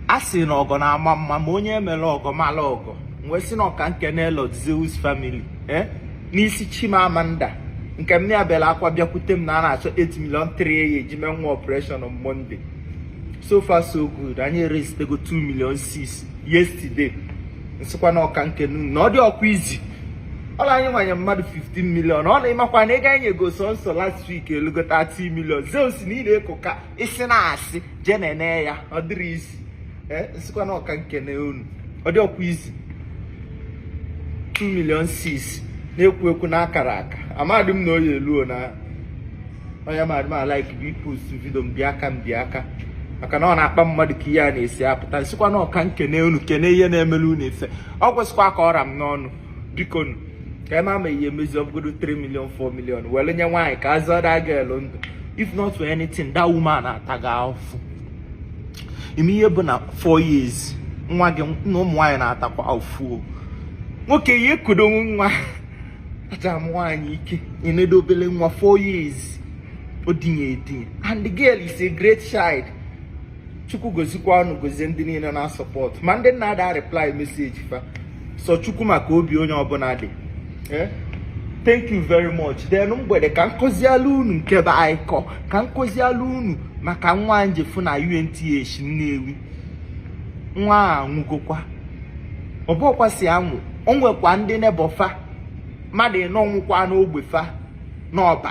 a sị na ọgọ na-ama mma ma onye emere ọgọ mala ọgọ wee sị na ọka nkene Lord Zeus family eh, n'isi Chimamanda nke mma ya bela akwa bịakwute m na a na-achọ 8 million 3 ya eji mee nwa operation on Monday so far so good anyị eraisetego 2 million 6 yesterday nsịkwa na ọka nkene unu na ọ dịrọkwa easy ọla anyị nwanye mmadụ 15 million ọ na ịmakwa na ego anyị nyego sọnsọ last week elugo 30 million Zeus na ị na-eko ka isi na-asị jee na-ene ya ọ dịrọ easy eh, nsikwa na ọka nkene unu ọ dịrọkwa easy 2 million 6 na-ekwu ekwu na akara aka amadị m na ọ ya-eluo na onye madị m alike bụ ipost video mbịa aka mbịa aka maka na ọ na-akpa mmadụ ka ihe a na-esi apụta nsikwa na ọka nkene unu kene ihe na-emelu unu ife ọ kwesịkwa ka ọ ra m n'ọnụ bikonu ka ema ma ihe emezi ọbụgodo 3 million 4 million were nye nwaanyị ka azọ that girl ndụ if not for anything that woman atago afụfụ ị ma ihe bụ na 4 years nwa gị na ụmụ nwaanyị na-atakwa afụfụ nwoke ya ekudo nwa aja m nwaanyị ike enedo obele nwa 4 years o dinye edinye and the girl is a great child chukwu gozikwa unu gozie ndị niile na-asupport ma ndị na-ada areply message fa sọ chukwu ma ka obi onye ọbụna dị eh? thank you very much then mgbede ka nkọziala unu nke m bịa ịkọ ka nkọziala unu maka nwa njefụ na UNTH Nnewi nwa anwụgokwa ọbụkwa si anwụ o nwekwa ndị neighbour fa mmadụ ịnọ nwụkwa n'ogbe fa n'Ọba